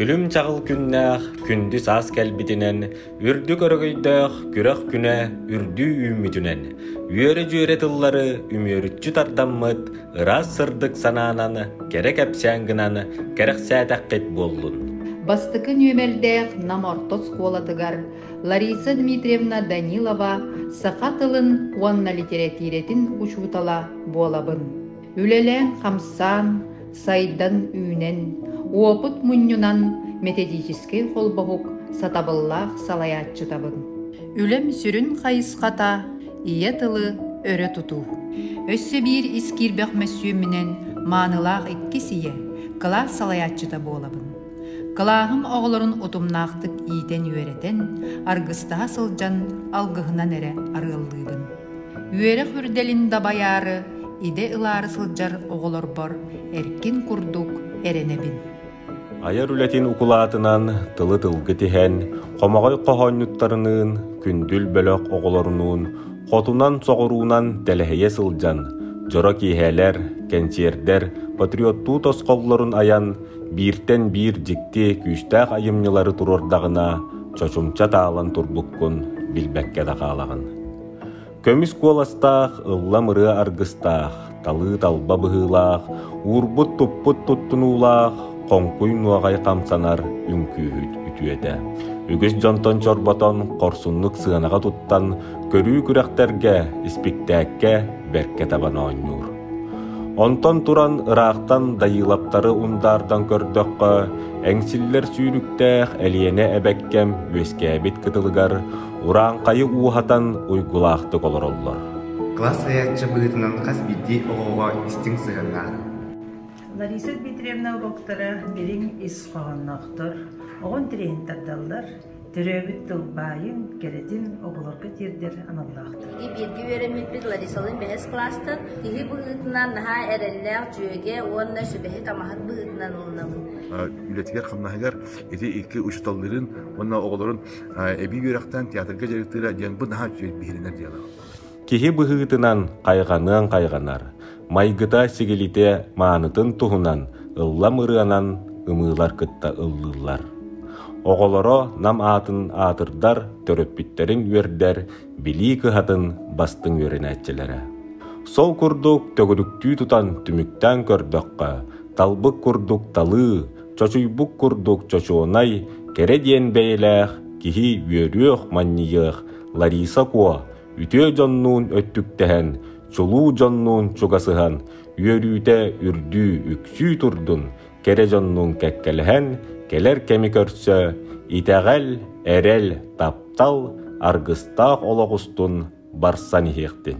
Күлүм-чаҕыл күннээх күндү саас кэлбитинэн, үрдүк өрөгөйдөөх күрэх күнэ үрдүү үүммүтүнэн, үөрэ-дьүөрэ тыллары үмүөрүччү тардаммыт ыраас сырдык санаанан кэрэ кэпсээн гынан кэрэхсээтэххит буоллун. Бастакы нүөмэрдээх Нам орто оскуолатыгар Лариса Дмитриевна Данилова саха тылын уонна литэрэтиирэтин учуутала буолабын. Үлэлээн-хамсаан, сайдан-үүнэн, уопут мунньунан методический холбоһук сатабыллаах салайааччытабын. Үлэм сүрүн хайысхата ийэ тылы өрө тутуу. Өссө биир искиирбэх мөссүөмүнэн маанылаах иккис ийэ, кылаас салайааччыта буолабын. Кылааһым оҕолорун утумнаахтык иитэн-үөрэтэн, аргыстаһа сылдьан алгыһынан эрэ арыаллыыбын. Үөрэх үрдэлин дабайаары, идэ ылаары сылдьар оҕолорбор эркин курдук эрэнэбин. Айар үлэтин укулаатынан тылы тылгы тиһэн, хомоҕой хоһоонньуттарыныын, күндүл бөлөх оҕолорунуун, хотунан-соҕуруунан тэлэһийэ сылдьан, дьоро киэһээлэр, кэнсиэрдэр, патриоттуу тосхоллорун айан – Бииртэн биир дьикти күүстээх айымньылары туруордаҕына, чочумча таалан турбуккун билбэккэ да хаалаҕын. Көмүс куоластаах, ыллам ырыа аргыстаах, талыы талба быһыылаах, уурбут туппут туттунуулаах, хоҥкуй нуоҕай хамсанар үҥкүүһүт үтүөтэ. Үгүс дьонтон чорботон, хорсуннук сыанаҕа туттан, көрүү күрэхтэргэ, испиктээккэ бэркэ табан оонньуур. Онтон туран ыраахтан Дайыылаптары ундаардан көрдөххө, эҥсиллэр сүүрүктээх Элиэнэ эбэккэм үөскээбит кытылыгар урааҥхайы ууһатан уйгулаахтык олороллор. Кылаас сайаачча быһыытынан хас биирдии оҕоҕо истиҥ сыһыаннаах. Лариса Дмитриевна уруоктара дириҥ ис хоһоонноохтор, оҕон тириэһин тардаллар, Төрөөбүт тылбаайын, кэрэтин оҕолорго тиэрдэр аналлаахтар. Биһиги бииргэ үөрэммиппит Ларисалыын бэһис кластан киһи быһыытынан наһаа эрэллээх дьүөгэ уонна сүбэһит-амаһыт быһыытынан ылынабыт. үлэтигэр-хамнаһыгар ити икки учууталларын уонна оҕолорун эбии үөрэхтээн театрга дьарыктыыра диэн бу наһаа үчүгэй биһирэнэр диалог. Киһи быһыытынан хайҕаныан хайҕанар, майгыта-сигилитэ маанытын туһунан ыллам ырыанан ымыылар кытта ыллыыллар. Оҕолоро нам аатын аатырдар, төрөппүттэрин үөрдэр, билии кыһатын бастыҥ үөрэнээччилэрэ. Сол курдук төгүрүктүү тутан түмүктээн көрдөххө, талбыт курдук талыы, чочуйбут курдук чочуонай, кэрэ диэн бэйэлээх киһи үөрүөх, манньыйыах Лариса Куо үтүө дьоннуун өттүктэһэн, чулуу дьоннуун чугасыһан, үөрүүтэ үрдүү үксүү турдун, кэрэ дьоннуун кэккэлэһэн, кэлэр кэми көрсө, итэҕэл, эрэл, таптал, аргыстаах олох устун барсан иһиэхтин.